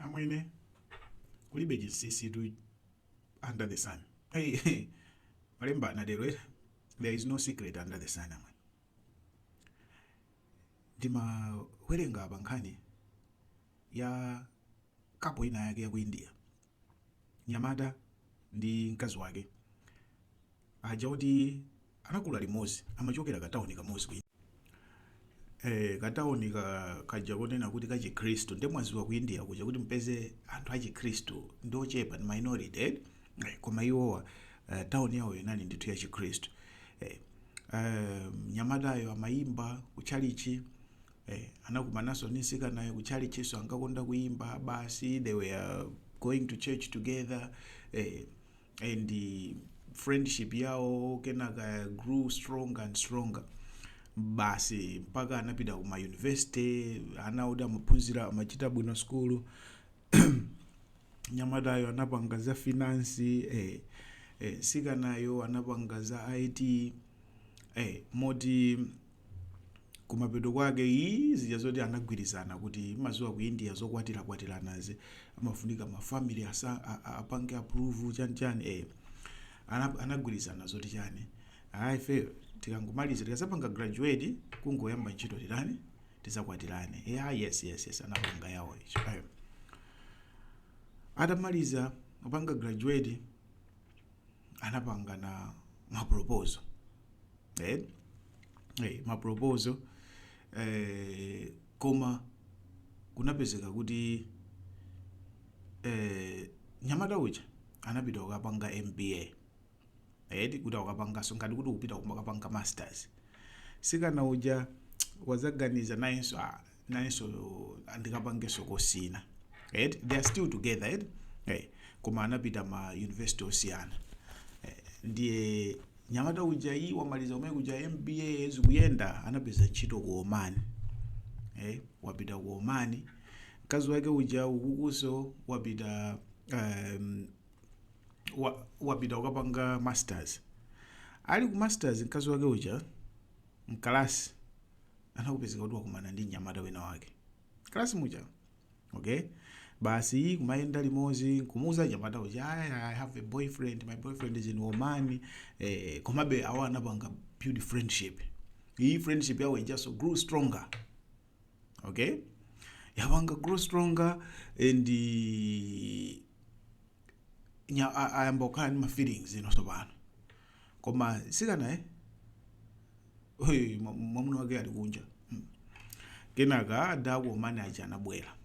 amwene kulibe chinsinsitu under the sun hey, hey. malemba anatero eh? there is no secret under the sun amwene ndimawerenga apa nkhani ya couple inayake ya ku india Nyamata ndi mkazi wake aja akuti anakula limozi amachokera ka town kamozi ku eh ka town kaja konena kuti ka chikhristu nde mukudziwa ku India kuja kuti mpeze anthu a chikhristu ndi ochepa ndi minority eh? Eh, koma iwowa eh, town yawo inali ndithu ya chikhristu eh, eh, nyamatayo amayimba ku tchalitchi Eh, anakumananso ndi msikanayo ku tchalitchinso ankakonda kuyimba basi they were going to church together eh, and eh, friendship yawo kenaka grew stronger and stronger basi mpaka anapita ku ma university ana oti amaphunzira amachita bwino skulu nyamatayo anapanga za finance eh, eh, sikanayo anapanga za it eh, moti kumapeto kwake ii zija zoti anagwirizana kuti mukudziwa ku india zokwatirakwatiranazi amafunika ma family asa a- a- apange approve chani chani eh Ana- anagwirizana zoti chani ife tikangomaliza tikazapanga graduate kungoyamba ntchito titani tizakwatirane yeah yes yes yes anapanga yawo itchoyo atamaliza kupanga graduate anapangana maproposal eh? eh, maproposal eh, koma kunapezeka kuti eh, nyamata uja anapita kukapanga mba eti kuti akapangenso ngati kuti kupita kukapanga masters sikana uja wazaganiza nayenso ah, nayenso ndikapangenso kosi ina eti they are still together eti eh, koma anapita ma university osiyana eh, ndiye nyamata uja iyi wamaliza kumene kuja mba zikuyenda anapeza ntchito ku oman eh, wapita ku oman mkazi wake uja kukunso wapita um, wa, wapita kukapanga masters ali ku masters mkazi wake uja mkalasi nkupezeka kuti wakumana ndi mnyamata wina wake mkalasi muja okay basi kumayenda limozi nkumuuza nyamata uja "Ayi, i have a boyfriend my boyfriend is in oman eh, komabe awa anapanga build friendship iyi friendship yawo ijaso grew stronger okay yapanga grow stronger and eh, nya- a- ayamba kukhala ndi ma feelings ino tsopano koma sikanayo eh Hey, mwa- mwamuna wake ali kunja Mm. kenaka ada aku oman aja anabwera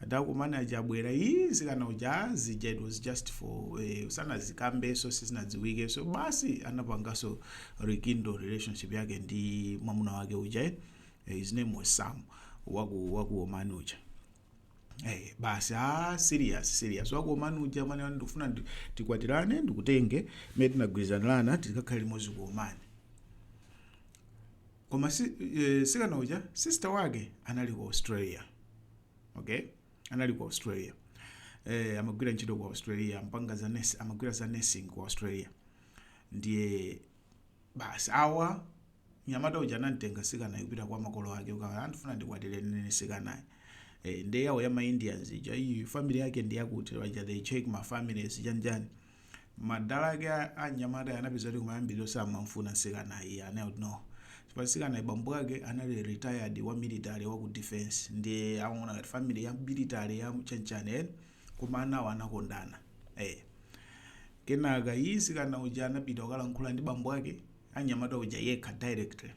Atakumana uja abwera ii mtsikana uja ah, zija it was just for eh, sanadzikambenso sizinadziwikenso basi anapanganso rekindle relationship yake ndi mwamuna wake uja eh, Eh, his name was Sam waku waku Oman uja Eh, basi ah, serious serious waku Oman uja mani wani ndikufuna ndi- tikwatirane ndikutenge mene tinagwirizanirana tikakhale limodzi ku Oman koma si, e, sikana uja sister wake anali ku australia okay anali ku australia e, amagwira ntchito ku australia mpanga za nurse, amagwira za nursing ku australia ndiye basi awa nyamata uja anamtenga sikanayu kupita kwa makolo ake ukawauza ndifuna ndikwatirane ndi sikanayu e, ndiye yawo ya ma indians ija iyi family yake ndiyakuti waja they check ma families chanichani mdala wake a- anyamata anapeza kuti kumayambiriro samamfuna msikana iye anali kuti no chifukwa msikana bambo wake anali retired wa military wa ku defense ndiye amaona ngati family ya military ya chanichani eh, koma anawo anakondana eh. kenaka iye msikana uja anapita kukalankhula ndi bambo wake anyamata uja yekha directly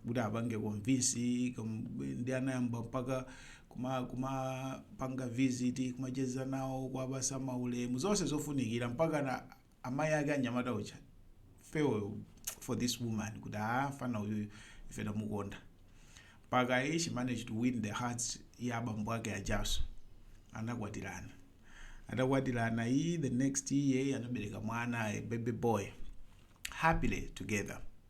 kuti apange convince kom- ndi anayamba mpaka kuma- kumapanga visit kumacheza nawo kuwapatsa maulemu zonse zofunikira mpaka na amayi ake anyamata uja fell for this woman kuti ah fana uyu ife tamukonda mpaka iye she managed to win the hearts ya abambo ake ajaso anakwatirana atakwatirana iyi the next year anabereka mwana a baby boy happily together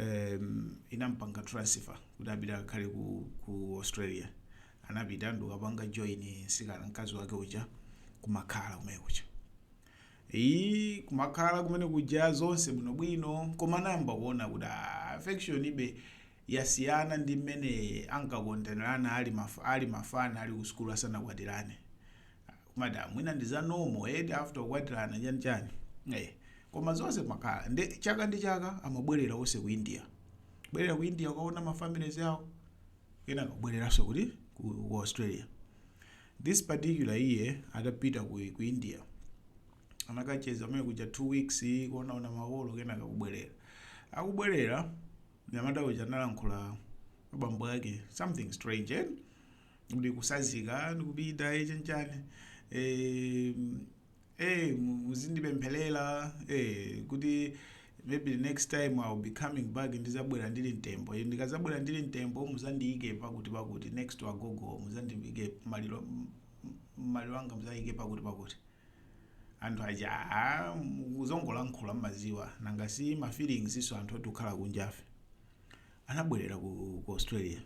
um, inampanga transfer kuti apite akakhale ku, ku australia anapita ndikapanga join nsikana mkazi wake uja kumakhala kumene kuja iyi kumakhala kumene kuja zonse bwinobwino koma anayamba kuona kuti ah, affection ija yasiyana ndi mmene ankakondanirana ali, maf ali mafana ali kusukulu asanakwatirane kumangoti mwina ndi za normal eti after kukwatirana chani chani eh koma zonse kumakhala chaka ndi chaka amabwerera onse ku india bwerera ku india kukaona ma families awo kenaka kubwereranso kuti ku, ku australia this particular year atapita ku, ku india anakacheza komwe kuja two weeks kuonaona makolo kenaka kubwerera akubwerera nyamata uja analankhula abambo ake something strange eh? ndikutsazika ndikupita eh, chanichani eh, eh, mu- muzindipempherera eh, kuti maybe the next time I'll be coming back ndizabwera ndili mtembo Eh, ndikazabwera ndili mtembo muzandiyike pakuti pakuti next to agogo muzandiyike maliro m- m- maliro anga muzayike pakuti pakuti anthu aja "Ah, akuzangolankhula mmadziwa nanga si ma feelings izo anthu oti tikhala kunjafe anabwerera ku, ku australia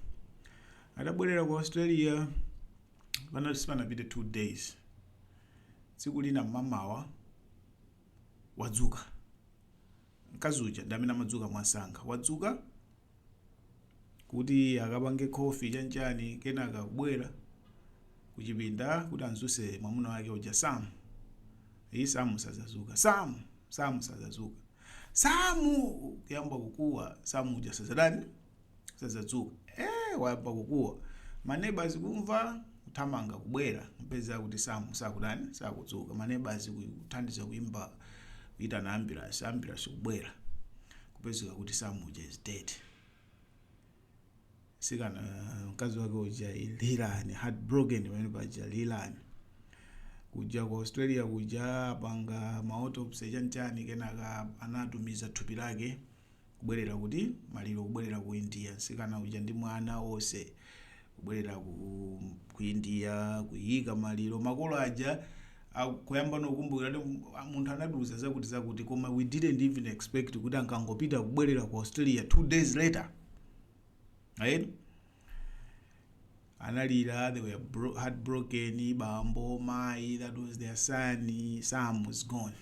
atabwerera ku australia pana- sipanapite two days tsiku lina mmamawa wadzuka mkazi uja ndi amene amadzuka mwansanga wadzuka kuti akapange khofi chanchani kenaka kubwera kuchipinda kuti amdzutse mwamuna wake uja samu ii samu sadzadzuka samu samu sadzadzuka samu kuyamba kukuwa samu uja sazatani sazadzuka eh wayamba kukuwa manebazi kumva kuthamanga kubwera mpeza kuti samu sakutani sakudzuka manebazi kuthandiza kuimba kuitana ambulance ambulance kubwera kupezeka kuti samu uja is dead sikana uh, mkazi wake uja lirani heartbroken pamene paja lirani kuja ku australia kuja apanga ma autopsy chanchani kenaka anatumiza thupi lake kubwerera kuti maliro kubwerera ku india sikana uja ndi mwana onse kubwerera ku, ku india kuyika maliro makolo aja kuyambano kukumbukira kuti mu- munthu anatiuza zakuti zakuti koma we didn't even expect kuti ankangopita kubwerera ku australia two days later right? analira they were bro- heartbroken bambo mai that was their son sam was gone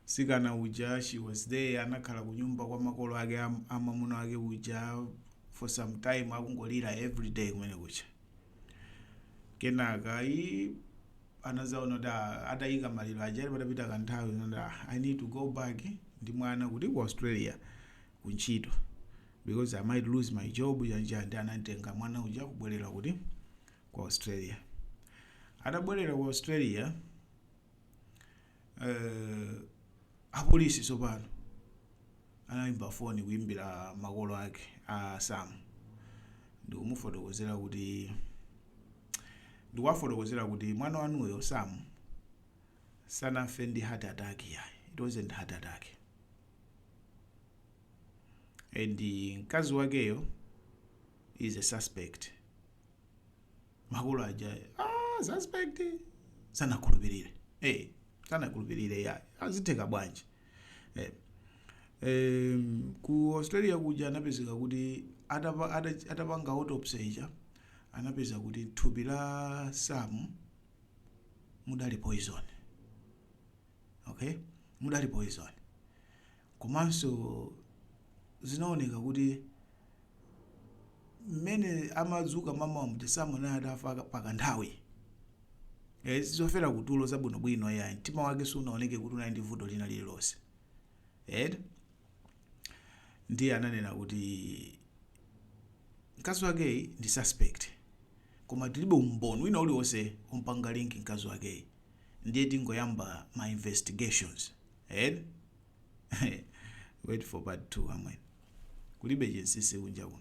sikana uja she was there anakhala kunyumba kwa makolo ake am- a mwamuna wake uja for some time akungolira everyday kumene kuja kenaka anazaona kuti ah, atayika maliro aja ali patapita kanthawi nati ah, i need to go back ndi mwana kuti ku australia ku ntchito because i might lose my job chani and anamtenga mwana uja kubwerera kuti ku australia atabwerera ku australia Eh, apolisi tsopano anayimba foni kuyimbira makolo ake a sam ndikumufotokozera kuti ndikuwafotokozera kuti mwana wanuyo sam sanafe ndi heart attack yayi it wasn't heart attack and mkazi wakeyo is a suspect makolo aja ah, suspect sanakhulupirire eh, sanakhulupirire ya azitheka bwanji eh. Em, ku australia kuja anapezeka kuti atapa- ata- atapanga autopsy ija anapeza kuti mthupi la sam mudali poison okay mudali poison Komanso zinaoneka kuti mmene amadzuka mamawa muja Sam anali atafa pakanthawi. Eh, zofera kutulo zabwinobwino yayi. Mtima wake sunaoneke kuti unali ndi vuto lina lililonse. Eh? Ndiye ananena kuti mkazi wakeyi ndi suspect. Koma tilibe umboni wina uliwonse ompanga link mkazi wakeyi. Ndiye tingoyamba ma investigations. eti wait for part 2 amwene kulibe chinsisi kunja kuno.